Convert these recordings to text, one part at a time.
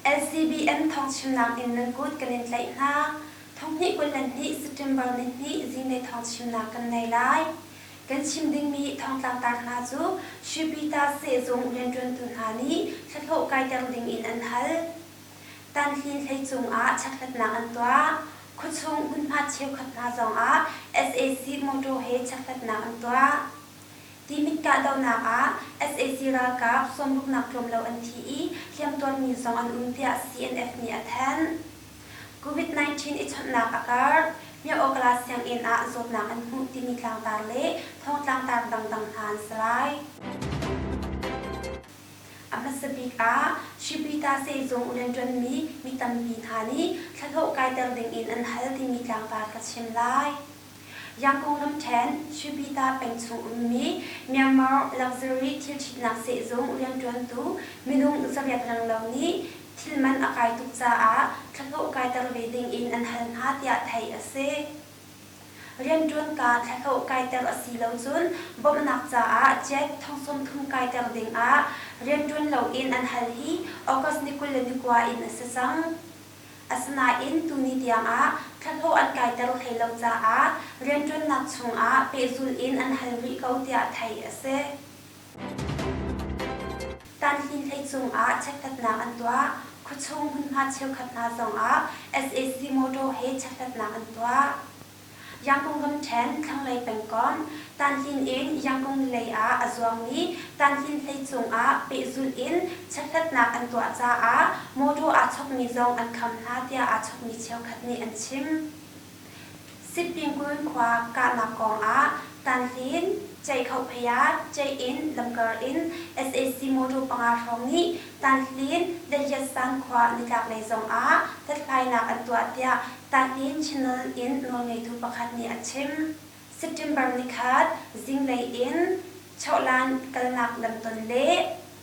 LCBM thawngchimnak in nan kut kan in tlaih hna. Thonghnih kul le hnih September ni hnih zine thawngchimnak kan nei lai. Kan chim dingmi thongtlangtar hna cu Shipita sehzung rianṭuantu hna nih thlahlawh kaiter ding in an hal. Tanhli hlei cungah chekhlatnak an tuah. Khuachung hmunhma cheukhat hna zongah sac motor he chekhlatnak an tuah. Timit kahdohnak ah sac ralkap sawmruknak tlawm lo an thi i hliamtuarmi zong an um tiah CNF nih a thanh. COVID-19 i chawnhnak a karh. Myoh-Okla sianginn ah zawtnak an hmuh timi tlangtar le thong tlangtar dangdang hna an si lai. A hmasa bik ah Shibita sehzung rian ṭuanmi mi tampi hna nih thlahlawh kaiter dingin an hal timi tlangtar ka chim lai. Yang konglam ṭhen Shibita peng chung ummi Myanmar Luxury Thilṭhitnak Sehzung rianṭuantu minung zabiat ranglo nih thil man a kai tuk caah thlahlawh kaiter ve dingin an hal hna tiah theih a si. Rianṭuanka thlahlawh kaiter a si lo cun bawmhnak caah ciaik thongsawm thum kaiter dingah rianṭuan loin an hal hi August ni kul le ni kua in a si cang. Asinain tuni tiangah thlahlawh an kaiter hlei lo caah rianṭuannak chungah pehzul in an hal rih ko tiah theih a si. Tanhnin hlei cungah chekhlatnak an tuah. Khuachung hmunhma cheukhat hna zongah SAC motor he chekhlatnak an tuah. Yangkung ramṭhen thlanglei pengkomh Tanhnin in Yangkung lei ah a zuangmi Tanhnin hlei cungah pehzulh in chekhlatnak an tuah caah motor aa chokmi zong an kham hna tiah aa chokmi cheukhat nih an chim. Sipingkul khua kahnak kongah Tanhlin, Ceikhohphaya, Ceih-inn lamkar in sac motor panga hrawng nih Tanhlin Lehyatsan khua nitlaklei zongah hlathlainak an tuah tiah Tanhlin Chinland in nawlngeitu pakhat nih a chim. September ni khat zinglei in chawhlan kalnak lam ton le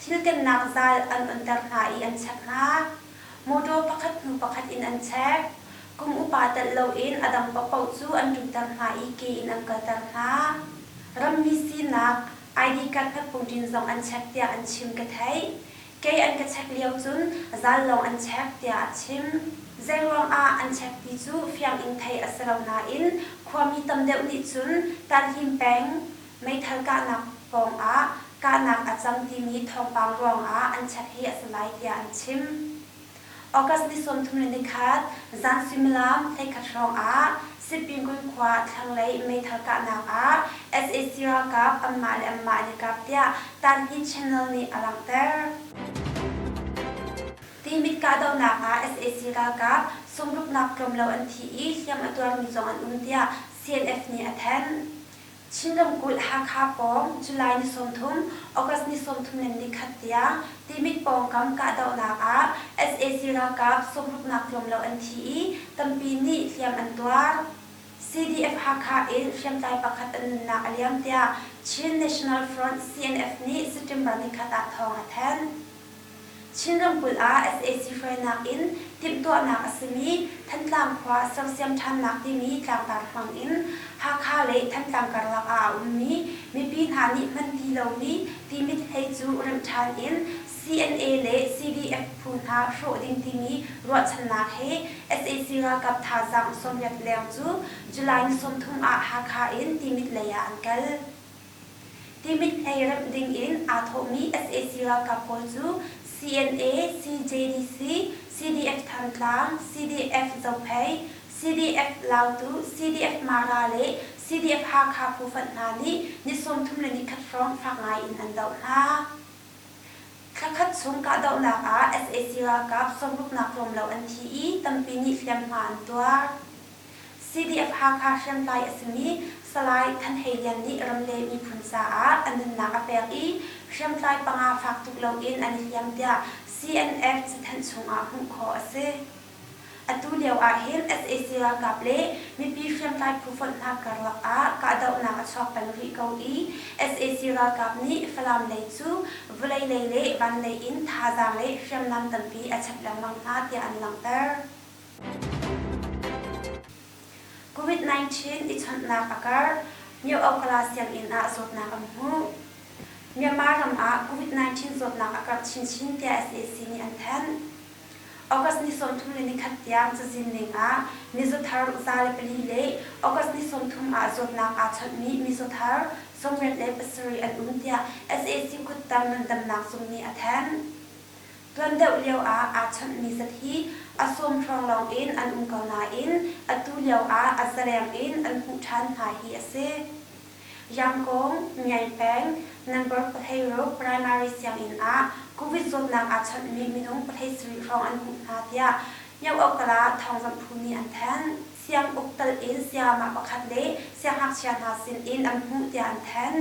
thil kennak zal an onter hna i an check hna. Motor pakhat hnu pakhat in an check. Kum upa telh loin a dang paohpaoh cu an ṭutter hna i ke in an kalter hna. Rammi sinak, ID card hmatpungṭin zong an check tiah an chim ka theih. Kei an ka check lio cun zal lawng an check tiah a chim. Zeiruangah an check ti cu fiang in theih a si lo nain khuami tam deuh nih cun tanhlim peng, Meithal kahnak pawng ah kahnak a cang timi thawngpang ruangah an check hi a si lai tiah an chim. August ni sawmthum le nikhat zan suimilam hleikhat hrawngah Sipingun khua thlanglei meithal kahnak ah sac ralkap anmah le anmah an i kap tiah Tanhni Channel nih a langhter. Timit kahdohnak ah sac ralkap sungruknak tlawmlo an thi i hliam a tuarmi zong an um tiah CNF nih a thanh. Chin ramkulh Hakha pawng July ni sawmthum, August ni sawmthum le ni khat tiang Timit pawngkam kahdohnak ah sac ralkap sawmruknak tlawm lo an thi i tampi nih hliam an tuar. CDF-Hakha in hriamtlai pakhat an nunnak a liam tiah Chin National Front, CNF, nih September ni khat ah thawng a thanh. Chin ramkulh ah sac hruainak in timhtuahnak a simi Thantlang khua sersiam ṭhannak timi tlangtar hmang in Hakha le Thantlang karlak ah a ummi mipi hna nih hman ti lomi timit hlei cu remh ṭhan in CNA le CDF phu hna hrawh ding timi ruahchannak he sac ralkap thazaang sawmriat leng cu July ni sawmthum ah Hakha in timit lei ah an kal. Timit ei remh dingin aa thawhmi sac ralkap pawl cu CNA, CJDC, CDF Thantlang, CDF Zophei, CDF Lautu, CDF Mara le CDF Hakha phu-fanh hna nih ni sawmthum le ni khat hrawng fak ngaiin an doh hna. Thla khat chung kahdohnak ah sac ralkap sawmruknak tlawmlo an thi i tampi nih hliamhma an tuar. CDF-Hakha hriamtlai a simi Salai Than Hei Lian nih ramleng miphun caah a nunnak a pek i hriamtlai panga fak tuk loin an i hliam tiah CNF cathanh chungah hmuh khawh a si. Atu lio ahhin sac ralkap le mipi hriamtlai phu fonh hna karlak ah kahdohnak a chuak peng rih ko i sac ralkap nih Falam lei cu vulei lei le vanlei in thazaang le hriamnam tampi a chap lengmang hna tiah an langhter. COVID-19 i chawnhnak a kar. Myoakala sianginn ah zawtnak an hmuh. Myanmar ram ah COVID-19 zawtnak a karh chinchin tiah SAC nih an thanh. August ni sawmthum le nikhat tiang cazin ning ah mizothar za le pali le August ni sawmthum ah zawtnak aa chawnhmi mizothar sawmriat le pasarih an um tiah SAC kuttang ngandamnak zung nih a thanh. Tuan deuh lioah aa chanhmi zat hi a sawmhrawng lawng in an um ko nain atu lioah a zaleng in an hmuh ṭhan hna hi a si. Yangkawng, Ngiai peng, Nangor Pahleiruk Primary sianginn ah Covid zawtnak aa chanhmi minung pahhlei sarih hrawng an hmuh hna tiah Myoh-Okala thawngzamh phu nih an thanh. Siang uk tal in sayamah pakhat le siangngakchia hna sinin an hmuh tiah an thanh.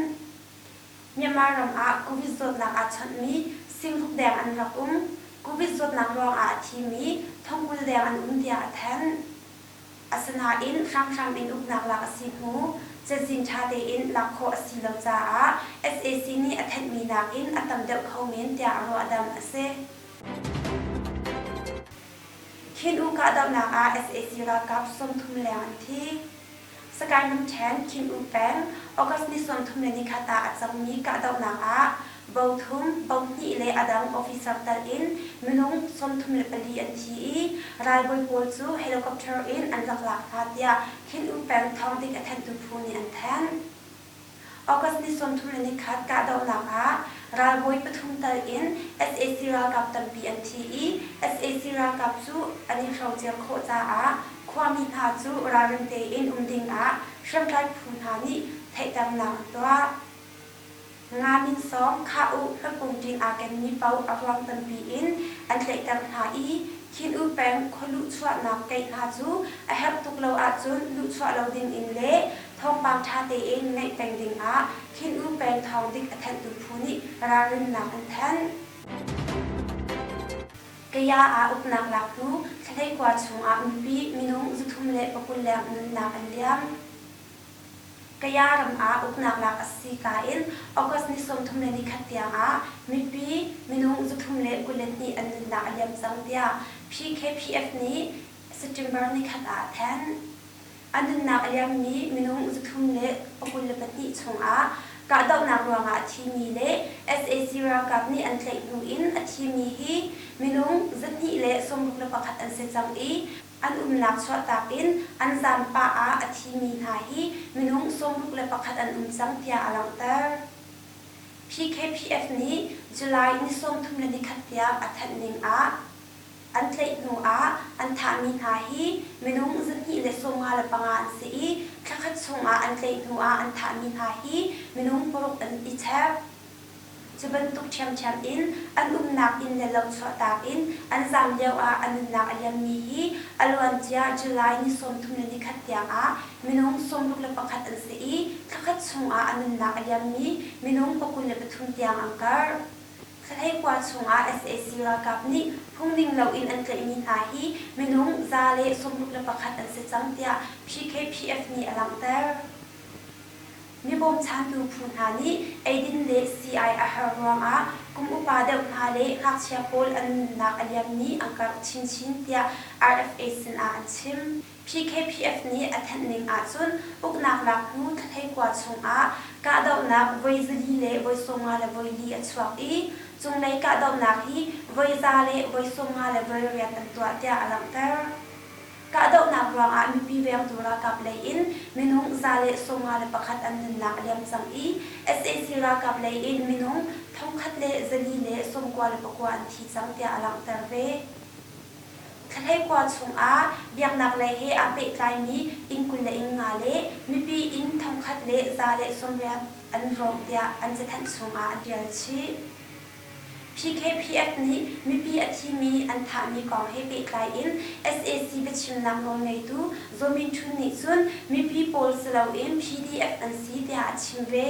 Myanmar ram ah Covid zawtnak aa chawnhmi singhuk deng an rak um. Covid zawtnak ruangah a thimi thongkul deng an um tiah a thanh. Asinain hramhram in uknak lak a si hnu cazin ṭha tein lak khawh a si lo caah sac nih a thenhmi nakin a tam deuh kho men tiah a ruahdamh a si. Khin U kahdohnak ah sac ralkap sawmthum leng an thi. Sakaimum ṭhen thin-um peng, August ni sawmthum le nikhat ah a cangmi kahdohnak ah bo thum, bo hnih le a dang officer telh in minung sawmthum le pali an thi i ralbawi pawl cu helicopter in an rak lak hna tiah thin-um peng thawng dik a thenhtu phu nih an thanh. August ni sawmthum le nikhat kahdohnak ah ralbawi pathum tal in sac ralkap tampi an thi i sac ralkap cu an i hrocer khawh caah khuami hna cu ralring tein um ding ah hriamtlai phu hna nih theihternak an tuah. Nga min sawm Khah U hlapung ṭin aa kenmi paoh a ruang tampi in an tlaihter hna i Khin U peng khualuh chuahnak keih hna cu a herh tuk lo ahcun luhchuah lo ding in le Thawngpang ṭha tein naih peng dingah Khin-U peng thawng dik a thenhtu phu nih ralrinnak an thanh. Kaya ah uknak laktu thladei kua chungah mipi, minung, zuthum le pakul-leng nunnak an liam. Kaya ram ah uknak lak a si ka in August ni sawmthum le nikhat tiangah mipi, minung, zuthum le kul le hnih an nunnak a liam cang tiah PKPF nih September ni khat ah a thanh. A nunnak a liammi minung zathum le a kul le pahnih chungah kahdohnak ruangah a thimi le sac ralkap nih an tlaih hnu in a thimi hi minung zahnih le sawmruk le pakhat an si cang i an umnak chuahtak in an zan pah ah a thimi hna hi minung sawmruk le pakhat an um cang tiah a langhter. PKPF nih July ni sawmthum le nikhat tiang a thanh ning ah, An tlaih hnu ah an thahmi hna hi minung zahnih le sawmnga le panga an si i thlakhat chungah an tlaih hnu ah an thahmi hna hi minung paruk in i chek. Cu bantuk ṭhiamṭhiam in an umnak inn le lo chuahtak in an zaam lioah a nunnak a liammi hi a luancia July ni sawmthum le nikhat tiangah minung sawmruk le pakhat an si i thlakhat chungah a nunnak a liammi minung pakul le pathum tiang an kar. Thlanei khua chungah sac ralkap nih phungning loin an tlaihmi hna hi minung za le sawmruk le pakhat an si cang tiah PKPF nih a langhter. Mi bawmchantu phu hna nih eidin le sii-ai a har ruangah kum upa deuh hna le ngakchia pawl an nunnak a liammi an karh chinchin tiah RFA sinah an chim. PKPF nih a thenh ning ahcun uknak lak hnu Thakhlei kua chungah kahdohnak voi zali le voi sawmnga le voi li a chuak i cunglei kahdohnak hi voi za le voi sawmnga le voi riat an tuah tiah a langhter. Kahdohnak ruangah mipi vengtu ralkap lei in minung za le sawmnga le pakhat an nunnak a liam cang i sac ralkap lei in minung thongkhat le zali le sawmkua le pakua an thi cang tiah a langhter ve. Thlanglei khua chungah biaknaklei he aa pehtlaimi inn kul le inn nga le mipi inn thongkhat le za le sawmriat an rawng tiah an cathanh chungah a ṭial chih. PKPF nih mipi a thimi an thahmi kong he pehtlai in sac biachimnak nawlngeitu Zaw Min Htun nih cun mipi pawl si loin PDF an si tiah a chim ve.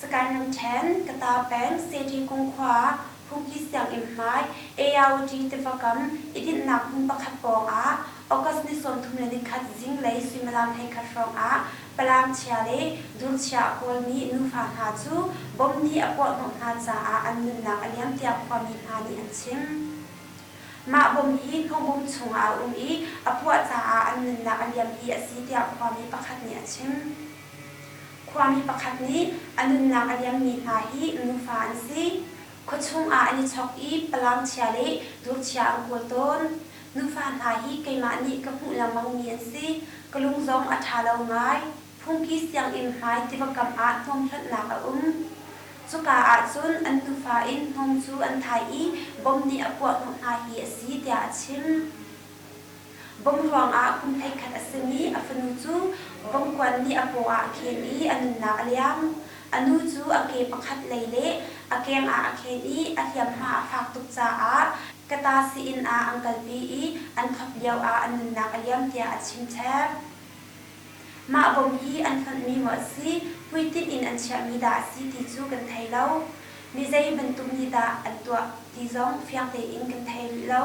Sagaing ramṭhen, Kata peng, Sete kung khua ah phuki sianginn hmai, ARUT tiva kam i dinhnak hmun pakhat pawngah August ni sawmthum le nikhat zinglei suimilam hleikhat hrawngah Palangchia le Durchia a kawlmi nufa hna cu bomb nih a puahhnawh hna caah an nunnak a liam tiah khuami hna nih an chim. Mah bomb hi thongbom chungah a um i a puah caah an nunnak a liam hi a si tiah khuami pakhat nih a chim. Khuami pakhat nih a nunnak a liammi hna hi nufa an si. Khuachung ah an i chawk i palangchia le durchia an kawl tawn. Nufa hna hi keimah nih ka hmuh lengmangmi an si. Ka lung zong a ṭha lo ngai. Phungki sianginn hmai tiva kam ah hnawm hlonhnak a um. Cuka ahcun an nufa in hnawm cu an thai i bom nih a puah hnawh hna hi a si tiah a chim. Vom ruangah kum hleikhat a simi a fanu cu vomkuan nih a paw ah a khen i a nunnak a liam. A nu cu a ke pakhat lei le a keng ah a khen i a hliamhma a fak tuk caah Kata sii-inn ah an kalpi i an khuap lioah a nunnak a liam tiah a chimchep. Mah vom hi an fonhmi maw a si, hmuitinh in an chiahmi dah a si ti cu kan thei lo. Mi zei bantuk nih dah an tuah ti zong fiang tein kan thei rih lo.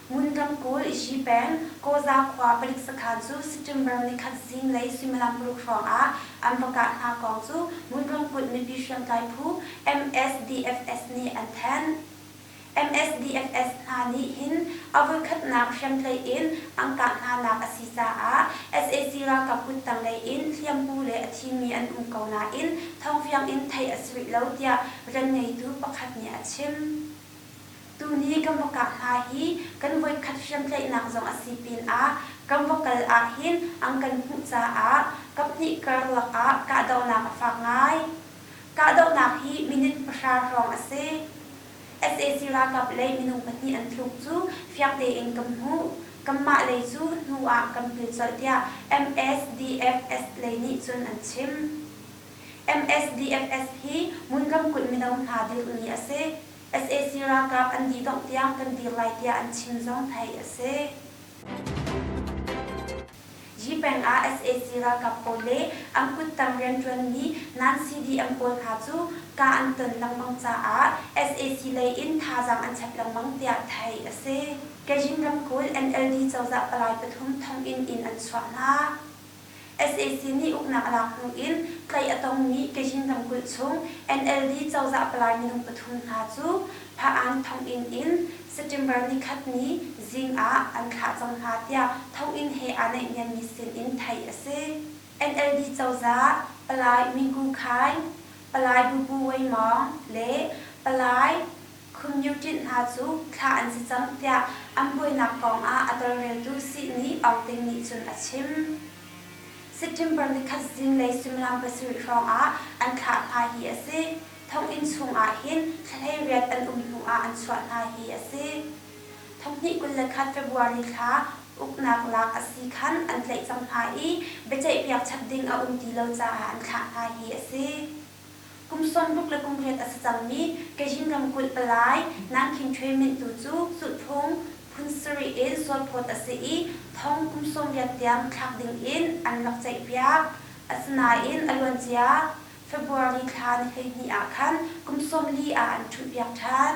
Ngundam kul i Shi peng, Kaw-za khua palik sakhan cu September ni khat zinglei suimilam paruk hrawng ah an va kah hna kong cu Ngun ramkulh mipi hriamtlai phu, MSDFS, nih an thanh. MSDFS hna nih hin a voikhatnak hriamtlei in an kah hnanak a si caah sac ralkap kuttanglei in hliampu le a thimi an um ko nain thawng fiang in theih a si rih lo, tiah rian ngeitu pakhat nih a chim. Tuni kan va kap hna hi kan voikhat hriamtlaihnak zong a si pinah kan va kal ahhin an kan hmuh caah kaphnih karlak ah kahdohnak a fak ngai. Kahdohnak hi minute pahra hrawng a si. Sac ralkap lei minung pahnih an thluk cu fiang tein kan hmuh. Kanmah lei cu hnu ah kan pil colh tiah MSDFS lei nih cun an chim. MSDFS hi Mun ramkulh mino hna dirhmi a si. sac ralkap an didongh tiang kan dir lai tiah an chim zong theih a si. Yipeng ah sac ralkap pawl le an kuttang rianṭuanmi nan-CD an pawl hna cu kah an ton lengmang caah sac lei in thazaang an chap lengmang tiah theih a si. Kajin ramkulh NLD cozah palai pathum thonginn in an chuah hna. sac nih uknak a lak hnu in tlaih a tongmi Teyin ramkulh chung NLD cozah palai minung pathum hna cu Pha-an thonginn in September nikhat ni zing ah an thlah cang hna tiah thonginn he aa naihniammi sin in theih a si. NLD cozah palai Mingu Khaing, palai Bubu Wei Mawng le palai Khumnyuṭinh hna cu thlah an si cang tiah an buainak kong ah a tolreltu sih nih Aungting nih cun a chim. September ni khat zinglei suimilam pasarih hrawng ah an thlah hna hi a si. Thonginn chung ah hin thlahlei riat an um hnu ah an chuah hna hi a si. Thawkhnih kul le khat February thla uknak lak a si khan an tlaih cang hna i biaceihpiak chap ding a um ti lo caah an thlah hna hi a si. Kum sawmruk le kum riat a si cangmi Kazhin ramkulh palai Nangkhing Htwe Myint tu cu Zulhphung phun sarih in Sualphawt a si i thong kum sawmriat tiang thlak ding in an rak ceihpiak. Asinain a luancia February thla ni hleihnih ah khan kum sawm li ah an ṭhulhpiak ṭhan.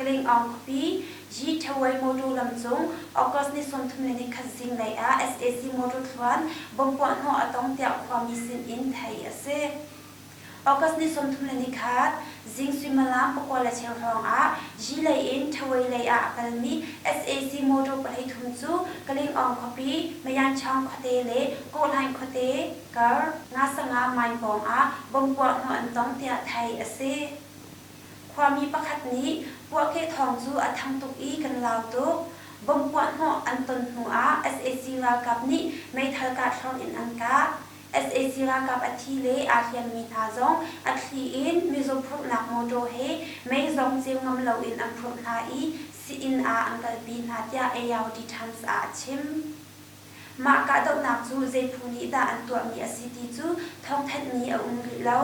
Kling-Aung-Kpi, Yi Thewei motor lamcung, August ni sawmthum le nikhat zinglei ah sac motor thluan bomb puahhnawh a tong tiah khuami sin in theih a si. August ni sawmthum le nikhat zing suimilam pakua le cheu hrawng ah Yi lei in Thewei lei ah a kalmi sac motor pahnih thum cu Kling-Aung khuapi, Mayanchang khuate le Kawhhlaing khuate, kar, Nga-Sanga mine pawng ah bomb puahhnawh an tong tiah theih a si. Khuami pakhat nih puahkeh thawng cu a thang tuk i kan lau tuk. Bomb puahhnawh an ton hnu ah sac ralkap nih meithal kah thluang in an kah. Sac ralkap a thi le aa hliammi hna zong a thli in mizaw phurhnak motor he mei zong ceu ngam loin an phurh hna i sih-inn ah an kalpi hna, tiah ARD Times ah a chim. Mah kahdohnak cu zei phu nih dah an tuahmi a si ti cu thawngthanhmi a um rih lo.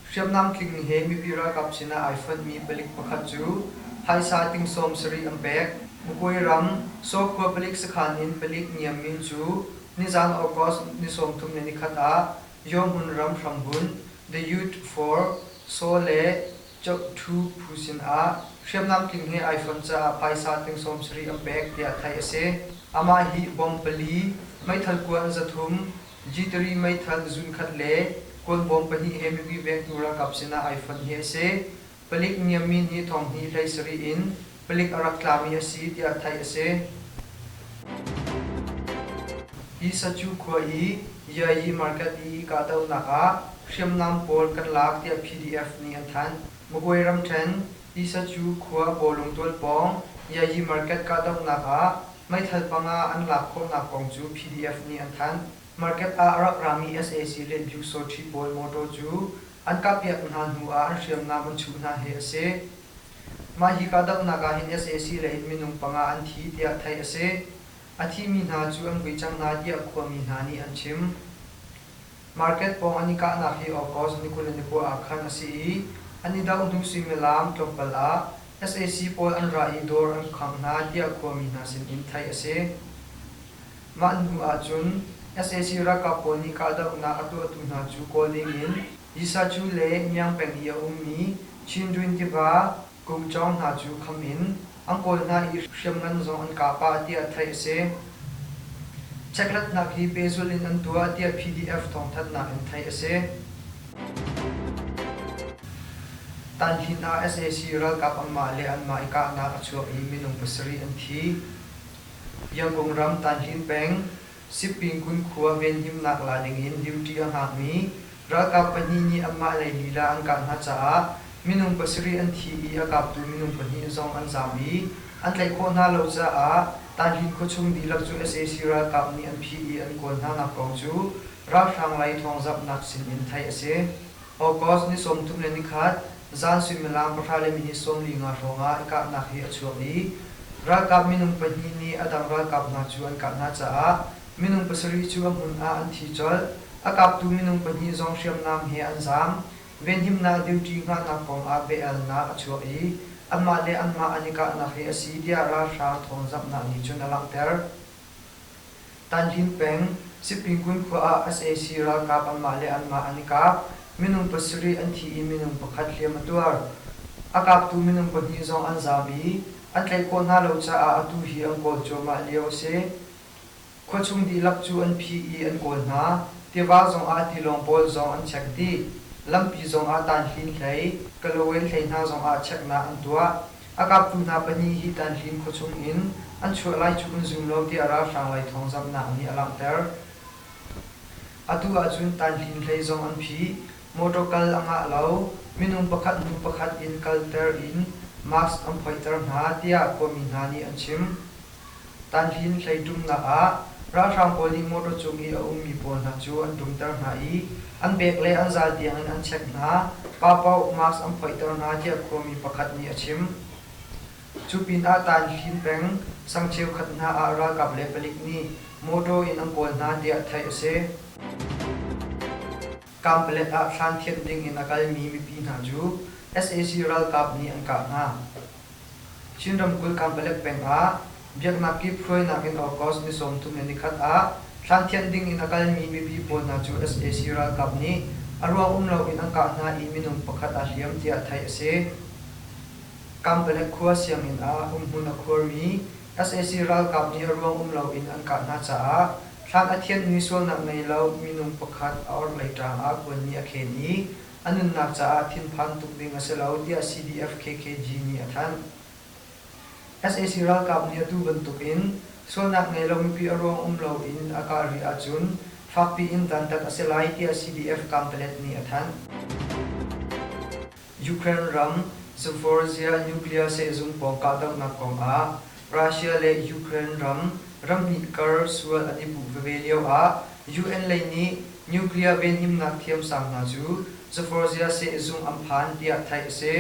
Hriamnam tling he mipi ralkap sinah ai fonhmi palik pakhat cu phaisa ting sawmsarih an pek. Mukuai ram Sawkhua palik sakhan in palik Niam Min cu nizan August ni sawmthum le nikhat ah Yawhmun ram hrambunh The Youth for Saw le Cheuhthu phu sinah hriamnam tling he iPhone caah phaisa tling sawmsarih an pek tiah theih a si. Amah hi bawm pali, meithal kua an za thum, Jitari meithal zunkhat le kuan bawm pahnih he mipi vengtu ralkap sinah iPhone hi a si. Palik niam min hi thawng hnih hlei sarih in palik a rak tlami a si tiah theih a si. Hi Sacu khua i Yayi Market i kahdohnak ah hriamnam pawl kan lak tiah PDF nih an thanh. Magway ramṭhen Hi Sacu khua Bawlung tual pawng Yayi Market kahdohnak ah meithal panga an lak khawhnak kong cu PDF nih an thanh. Market ah a rak rami sac le Byuksaw ṭhi pawl motor cu an kahpiak hna hnu ah an hriamnam an chuh hna hi a si. Mah hi kahdohnak ah hin sac le hin minung panga an thi tiah theih a si. A thimi hna cu an vui cang hna tiah khuami hna nih an chim. Market pawng an i kahnak hi August ni kul le ni kua ah khan a si i an i doh hnu suimilam tlawmpal ah sac pawl an ra i dawr an khangh hna tiah khuami hna sinin theih a si. Mah hnu ahcun sac ralkap pawl nih kahdohnak a tuahtu hna cu kawl dingin Yisa cu le miang peng i a ummi Chindwin tiva kum cawng hna cu kham in an kawl hna i hriamngan zong an kah pah tiah theih a si. Chekratnak hi pehzulh in an tuah tiah PDF thawngthanhnak in theih a si. Tanhlin ah sac ralkap anmah le anmah i kahnak a chuak i minung pasarih an thi. Yangon ram Tanhlin peng Sipingkun khua venhimnak la dingin duty a hngakmi ralkap pahnih nih anmah lei lila an kah hna caah minung pasarih an thi i a kaptu minung pahnih zong an zaam i an tlaih khawh hna lo caah Tahlin khuachung dihlak cu sac ralkap nih an phih i an kawl hnanak kong cu ralhrang lei thawngzamhnak sin in theih a si. August ni sawmthum le nikhat zan suimilam pahra le minit sawm li nga hrawngah kahnak hi a chuak i ralkap minung pahnih nih a dang ralkap hna cu an kah hna caah minung pasarih cu a hmun ah an thi colh. A kaptu minung pahnih zong hriamnam he an zaam. Venhimnak duty ngahnak kongah bia-elnak a chuak i anmah le anmah an i kahnak hi a si tiah ralhrang thawngzamhnak nih cun a langhter. Tanhlim peng, Sipingun khua ah sac ralkap anmah le anmah an i kap. Minung pasarih an thi i minung pakhat hliam a tuar. A kaptu minung pahnih zong an zabi. An tlaih khawh hna lo caah atu hi an kawl cuahmah lio a si. Khuachung dihlak cu an phi i an kawl hna. Tiva zong ah tilawng pawl zong an chek dih. Lampi zong ah tanhlim hlei, Kalawin hlei hna zong ah cheknak an tuah. A kaptu hna pahnih hi Tanhlim khuachung in an chuah lai cu kan zum lo tiah ralhrang laithawngzamhnak nih a langhter. Atu ahcun Tanhlim hlei zong an phih. Motor kal a ngah lo. Minung pakhat nu pakhat in kalter in mask an phoihter hna, tiah khuami hna nih an chim. Tanhlin hleiṭumnak ah ralhrang pawl nih motor cung i a ummi pawl hna cu an ṭumter hna i an bek le an zal tiangin an check hna, pa paoh mask an phoihter hna tiah khuami pakhat nih a chim. Cu pinah Tanhlin peng sang cheukhat hna ah ralkap le palik nih motor in an kawl hna tiah theih a si. Kamplet ah hran thianh dingin a kalmi mipi hna cu sac ralkap nih an kah hna. Chin ramkulh Kamplet peng ah Biaknak kip hruainak in August ni sawmthum le nikhat ah hlan thianh dingin a kalmi mipi pawl hna cu sac ralkap nih a ruang um loin an kah hna i minung pakhat a hliam tiah theih a si. Kamplet khua sianginn ah umhmun a khuarmi Sac ralkap nih ruang um loin an kah hna caah thlan a thianhmi sualnak ngei lo minung pakhat a orhlei ṭaang ah kuanmi a khen i a nunnak caah thinphan tuk ding a si lo tiah CDF-KKG nih a thanh. Sac ralkap nih atu bantukin sualnak ngei lo mipi a ruang um loin a kah rih ahcun fakpi in dantat a si lai tiah CDF Kamplet nih a thanh. Ukraine ram Zaporizhzhia nuclear sehzung pawng kahdohnak kong ah Russia le Ukraine ram ramhnih kar sual an i puh veve lio ah UN lei nih nuclear venhimnak thiamsang hna cu Zaporizhzhia sehzung an phan tiah theih a si.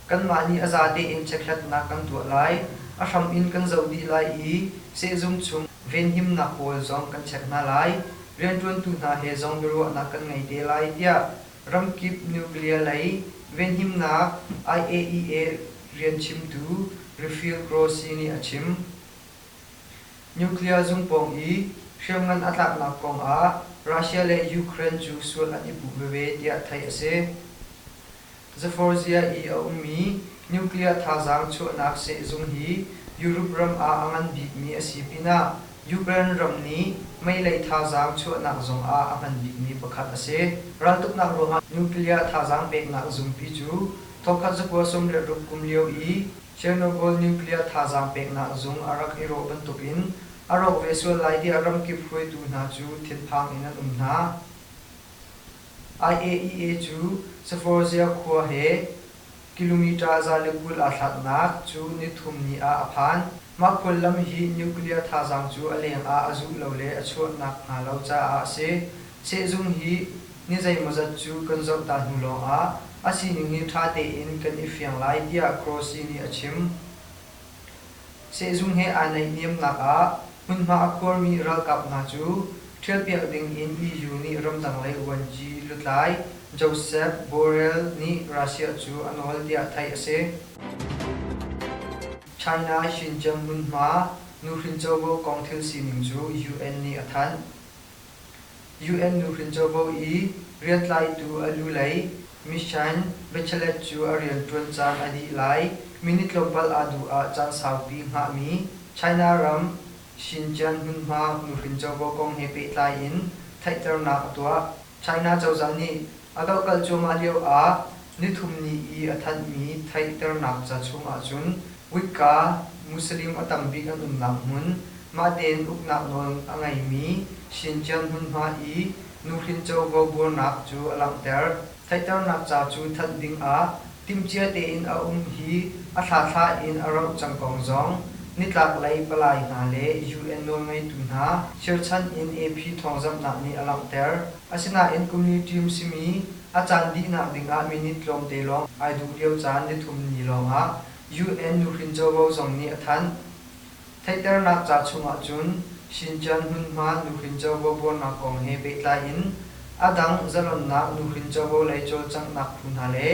Kanmah nih a za tein chekhlatnak kan tuah lai, a hram in kan zoh dih lai i sehzung chung venhimnak pawl zong kan check hna lai. Rianṭuantu hna he zong biaruahnak kan ngei te lai tiah ramkip nuclear lei venhimnak IAEA rian chimtu Refil Grossi nih a chim. Nuclear zung pawng i hriamngan a tlaknak kongah Russia le Ukraine cu sual an i puh veve tiah theih a si. Zaforzhia i a ummi nuclear thazaang chuahnak sehzung hi Europe ram ah a ngan bikmi a si pinah Ukraine ram nih meilei thazaang chuahnak zong ah a hman bikmi pakhat a si. Raltuknak ruangah nuclear thazaang peknak zungpi cu thawkkhat zakua sawm le ruk kum lio i Chernobyl nuclear thazaang peknak zung a rak i rawh bantukin a rawk ve sual lai tiah ramkip hruaitu hna cu thinphang in an um hna. IAEA cu Saforsia khua he kilometre za le kul aa hlatnak cu nithum ni ah a phan. Mah khuallam hi nuclear thazaang cu a lengah a zuh lo le a chuah nakhnga lo caah a si. Sehzung hi ni zeimawzat cu kan zohta hnu lawngah a sining hi ṭha tein kan i fiang lai tiah Grossi nih a chim. Sehzung he aa naihniamnak ah hmunhma a khuarmi ralkap hna cu ṭhialpiak dingin EU nih ramdang-lei vuanci lutlai Josep Borrell nih Russia cu a nawl tiah theih a si. China Xinjiang hmunhma nuhrin covo kong thil sining cu UN nih a thanh. UN nuhrin covo i riantlaitu a lu lei Mishain Bachelet cu a rianṭuan caan a dih lai, minit tlawmpal aa duh ah caan saupi hngahmi China ram Xinjiang hmunhma nuhrin covo kong he pehtlai in theihternak a tuah. China cozah nih A ka kal cuahmah lio ah nithum ni i a thanhmi theihternak ca chungah cun Wicca, Muslim a tam bik an umnak hmun, mahtein uknak nawl a ngeimi Shintian hmunhma i nuhrin covo buarnak cu a langhter. Theihternak ca cu thanh dingah timhcia tein a um hi a thlathla in a rauh cang kong zong nitlaklei palai hna le UN nawlngeitu hna sirchan in AP thawngzamhnak nih a langhter. Asinain kum li ṭim simi a caan dihnak dingah minit tlawmte lawng ai duh lio caan nithum ni lawngah UN nuhrin covo zong nih a thanh. Theihternak ca chungah cun Xinjiang hmunhma nuhrin covo buarnak kong he pehtlai in a dang zalonnak nuhrin covo lei cawlcanghnak phu hna le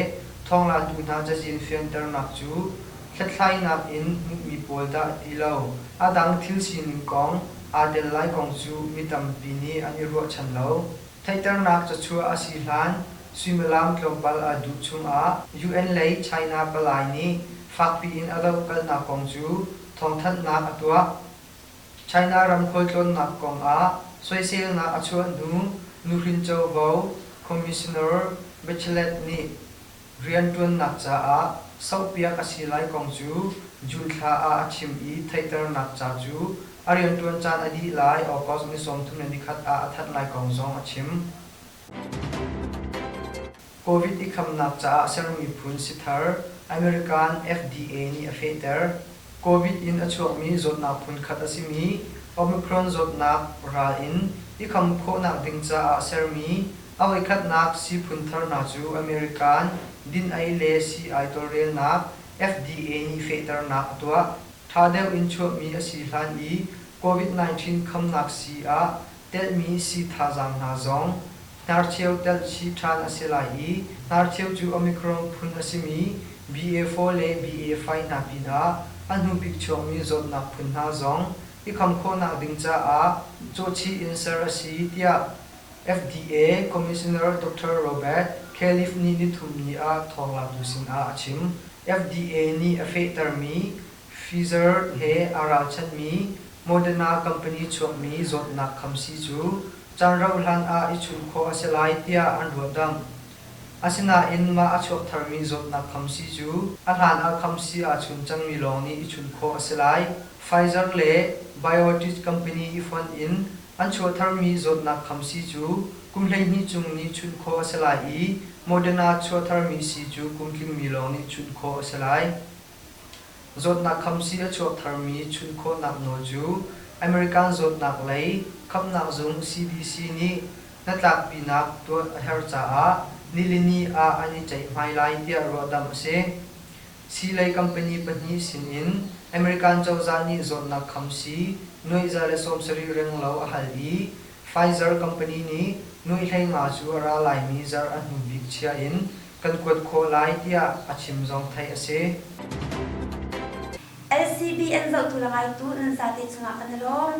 thawnglaatu hna cazin fianternak cu hlethlainak in hmuhmi pawl dah ti lo a dang thil sining kong aa tel lai kong cu mi tampi nih an i ruahchan lo. Theihternak cachuah a si hlan suimilam tlawmpal a duh chungah UN lei China palai nih fakpi in a dohkalhnak kong cu thawngthanhnak a tuah. China ram khualtlawnnak kongah soiselnak a chuah hnu nuhrin covo commissioner Bachelet nih Rianṭuannak caah sohpiak a si lai kong cu June thla ah a chim i theihternak ca cu a rianṭuan caan a dih lai August ni sawmthum le nikhat ah a that lai kong zong a chim. Covid i khamnak caah a sermi phun si thar American FDA nih a fehter. Covid in a chuakmi zawtnak phunkhat a simi Omicron zawtnak ral in i kham khawhnak ding caah a sermi A voikhatnak sii phuntharnak cu American din-ei le sii-ai tawlrelnak, FDA nih fehternak a tuah. Ṭha deuh in chuahmi a si hlan i Covid-19 khamnak sii ah telhmi sii thazaang hna zong hnarcheu telh chih ṭhan a si lai i hnarcheu cu Omicron phun a simi BA4 le BA5 hna pinah a hnubik chuakmi zawtnak phun hna zong i kham khawhnak ding caah cawhchih in ser a si tiah FDA Commissioner Doctor Robert Califf nih nithumni ah thawnglaatu sinah a chim. FDA nih a fehtermi Pfizer he aa ralchanhmi Moderna company chuahmi zawtnak khamsi cu caan rauhhlan ah i chunh khawh a si lai tiah an ruahdamh. Asinain mah a chuak tharmi zawtnak khamsi cu a hlanah khamsi aa chun cangmi lawng nih i chunh khawh a si lai. Pfizer le BioNTech company i fonh in An chuahtharmi zawtnak kham sii cu kum hleihnih chung nih chunh khawh a si lai i Moderna chuahtharmi sii cu kum tlingmi lawng nih chunh khawh a si lai. Zawtnak kham sii a chuak tharmi chunh khawhnak nawl cu American zawtnak lei khamhnak zung CDC nih hnatlakpinak tuah a herh caah nilini ah an i ceihhmai lai tiah ruahdamh a si. Sii lei company pahnih sin in American cozah nih zawtnak kham sii nuaih za le sawmsarih reng lo a hal i Pfizer company nih nuaih hleinga cu a ra laimi zarh a hnu bik chia in kan kuat khawh lai tiah a chim zong theih a si. LCBN zohtu le ngaitu nan zate cungah kan i lawm.